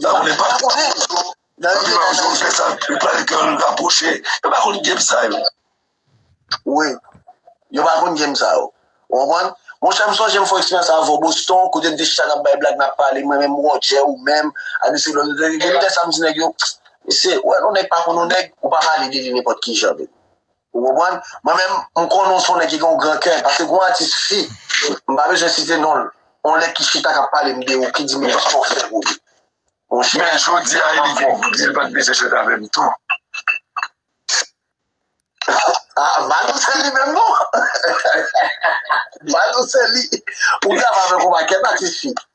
Yo pa konnen pap konnen yo. Nan rive nan yon zòn fèsa yo pral gen yon rapwoche. Yo pa konn game sa yo. Wi. Yo pa konn game sa yo. Ou konprann? Monchè m sonje m fè yon eksperyans avè w Boston kote n te chita nap bay blag nap pale mwen menm Roger ou menm ak mesye Lòl nou te gen lide sa m di nèg yo mesye ou wè yon nèg pa konn yon nèg ou pa pale de li nenpòt kijan vre. Ou konprann? Mwen menm, m konnen yon fo nèg ki gen yon gran kè, paske gen yon atis fi, m pa bezwen site non l, yon lè ki chita k ap pale m de ou, ki di m kisa w fè pou li. Monchè, m pa konn. Men jodi a li vin di l pa t bezwen jwenn avè m tou. A, Badou se li menm non! Badou se li! Ou dako avè m ou pa kèt atis fi?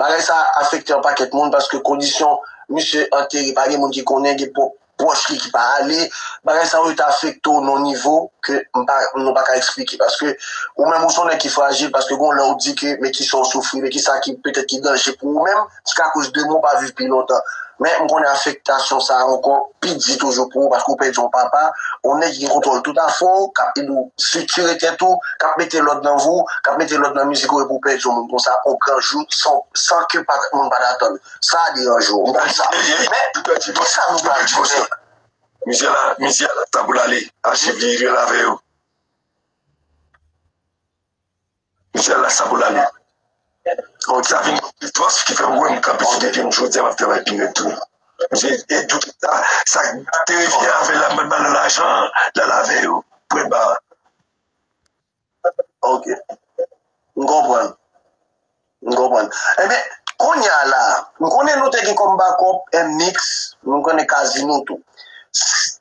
Bagay sa a afekte yon pakèt moun paske kondisyon misye antere pa gen moun ki konnen, gen pwòch li ki pa ale. Bagay sa yo te afekte w nan yon nivo ke nou pa ka eksplike paske ou menm ou se yon nèg ki frajil paske gen yon lè ou di ke men kisa ou soufri, men kisa ki petèt ki danje pou ou menm jiskakoz demen ou pa viv pi lontan. Men, m konnen afektasyon sa a ankò pi di toujou pou ou paske ou pèdi yon papa, yon nèg ki gen kontwòl tout afè w, k ap ede w siktire tèt ou, k ap mete lòd nan vi w, k ap mete lòd nan mizik ou epi ou pèdi yon moun konsa yon gran jou san ke moun pa t atann. Sa a deranje w. M konn sa. Men, ki sa nou pral jwenn? Mizè la, mizè a gen tan pou l ale. Achiv li, li rele avè yo. Michel la sa pou lane. Bon sa vin yon fòs ki fè m wè m kanpe sou de pye m jodi a m ap travay pi rèd toujou. Misye e tout sa sa k te revyen avè l la m pral ba l lajan an l al avè yo pou l ba ok m konprann m konprann enben kounya la m konnen nou te gen kòm bakòp MMix nou konnen Casino tou.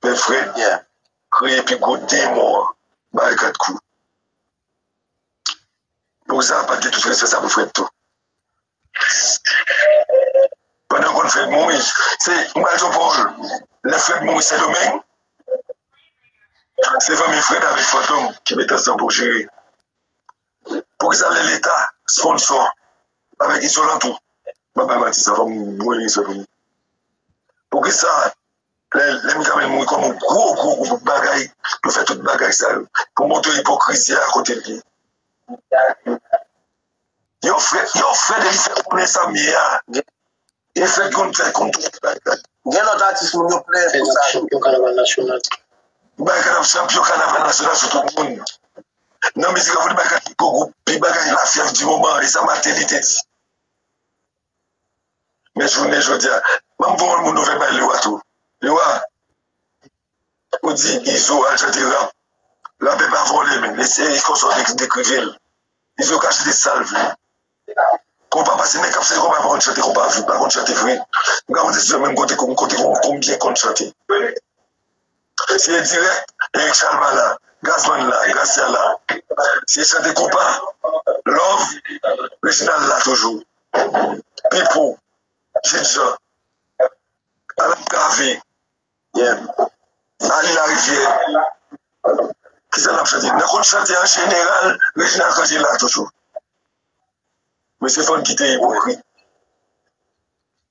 Pè Fredyen kreye pi gwo demon an bay 4 kou. Poza pat gen tout respè sa pou Fred tou. Pandan konn Fred mouri, se m pral di w pawòl lè Fred mouri Sendomeng se fanmi Fred avèk Fantom ki met ansanm pou jere. Poukisa lè leta sponsò avèk izolan tou, m pap bay manti sa fòk m voye respè pou nou. Poukisa Lè m tanmen moun kòm yon gwo gwo gwo bout bagay yo fè tout bagay sa yo pou montre ipokrizi a kote l ye. Yon frè yon frè depi sa konnen sa m ye a e fè konn fè konn tout sa l ye. Gen lòt atis moun yo plen pou sa tou. Bay kanaval nasyonal chanpyon kanaval nasyonal sou tout moun nan mizik la pou li bay kanaval pi gwo gwoup pi bagay lafyèv di moman e sa Martelly te di. Men jounen jodi a banm voye yon nouvèl bay Lewa tou Lewa ou di Izo al chante rap Rapè pa vole men li se konsa w dekrivel Izo ka chante sal vle konpa pase nèg kap fè konpa pa konn chante konpa vre pa konn chante vre m ka konte sou yo men m konte konbyen konn chante. Eseye dirèk e chal ba la Gras bann la Gracia la Se chante konpa Love Reginald la toujou Pipou Jude Jean Alan Cavé Arly Larivière Kisa nap chante Nou konn chante an jeneral Reginald Canger la toujou Mesye fòk n kite ipokrit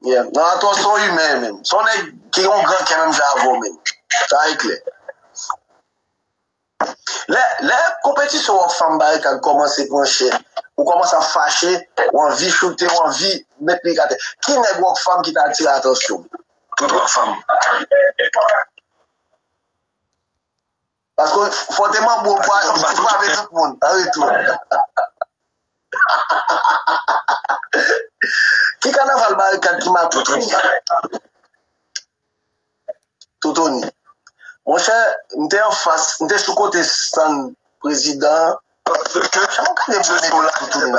Yeah Don Atos se yon imen menm. Se yon nèg ki gen yon gran kè menm jan avèw menm. Sa e klè. Lè lè konpetisyon w ak fanm Barikad kòmanse pran chè, ou kòmanse ap fache, ou anvi choute, ou anvi met mik atè. Ki nèg Rockfam ki ta atire atansyon w? Tout Rockfam. Paske fòte manbo pa frape tout moun an retou. Ki kanaval barikad ki maton tout sa? Toutouni. Monchè, m te anfas, m te sou kote stann prezidan an. Kijan w konnen m te la toutouni?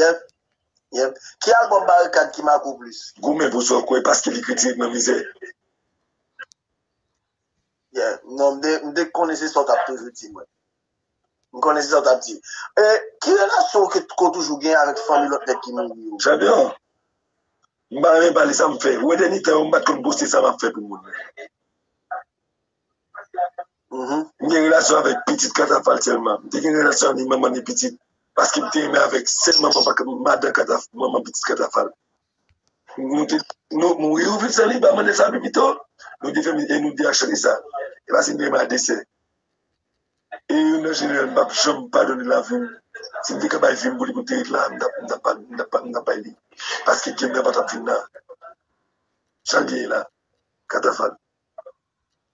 Yep Yep Ki album Barikad ki make w plis? Goumen pou sa w kwè paske li kritike k nan mizè. Yeah non m te konnen se sa w t ap toujou di mwen. M konnen se sa w t ap di. E ki relasyon ke w toujou gen avèk fanmi lòt nèg ki mouri yo? Chanpyon, m pa renmen pale sa m fè. Ou wè dènye tan yo m pa t konn poste sa m ap fè pou moun. M gen relasyon avèk pitit katafal sèlman. M te gen relasyon avèk manman e pitit. Paske m te renmen avèk sèl manman madan katafal, manman pitit katafal. Nou te mouri ou viv sèlib a mande sa pi pito. Nou te fè mizik e nou te chante sa. E paske m te renmen a de sè. E youn nan jeneral m pa p janm padone lavi m. Si m te ka bay vi m pou li pou l te ret la, m ta pa m ta bay li. Paske kè m nan pa t ap fin la. Jan l te ye la. Katafal.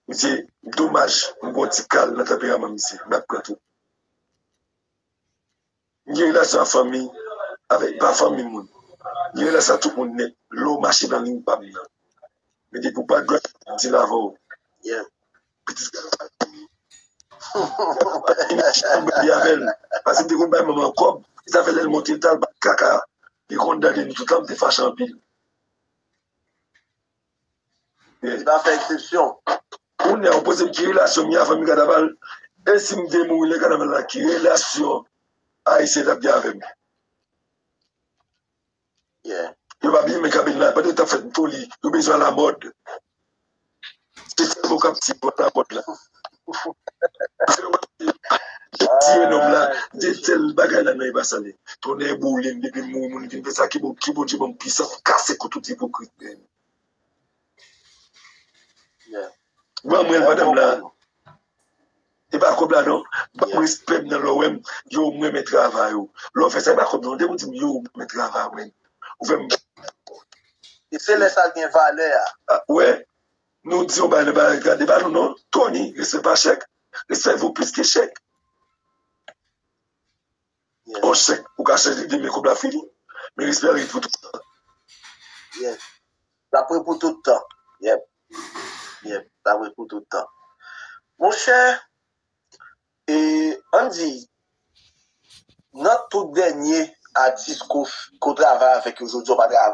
Misye domaj m gon ti kal nan tanperaman misye m ap pran tou m gen relasyon ak fanmi avèk pa fanmi moun m gen relasyon ak tout moun nèt lè w mache nan liy pa m nan men depi w pa dwat m di l avè w pitit sa pa gen fanmi epi m bay li avè l paske m te konn bay manman l kòb e sa fè lè l monte l t al bat kaka li konn dade nou toutan m te fache anpil. Li pa fè eksepsyon. Kounya ou pozem ki relasyon m gen a fanmi kanaval e sim te mouri lè kanaval la ki relasyon ayisyen tap gen avèm yo pa byen men kanmenn la pandan yo tap fè foli yo bezwen alamòd se sèl mwen kap di pou alamòd la. Tiye nonm la gen sèl bagay nan men epa sale tonnè boulem depi moun moun vin fè sa ki bon ki Bondye banm pwisans kase kou tout ipokrit yo. Ban mwen l madam la e pa kob la non ban m respè m nan lè w wè m yo m renmen travay ou lè w fè sa e pa kob non depi w di m yo m renmen travay ou fè m se lè sa l gen valè a. Nou di yon bagay nan bagay gade pa nou non Tony respè pa chèk respè vo plis ke chèk yon chèk ou ka chanje demen kòb la fini men respè an ret pou tout tan yes lap ret pou tout tan yep yep lap ret pou tout tan monchè e ann di nan tout dènye atis ko travay avèk yo jodi a ou pa travay.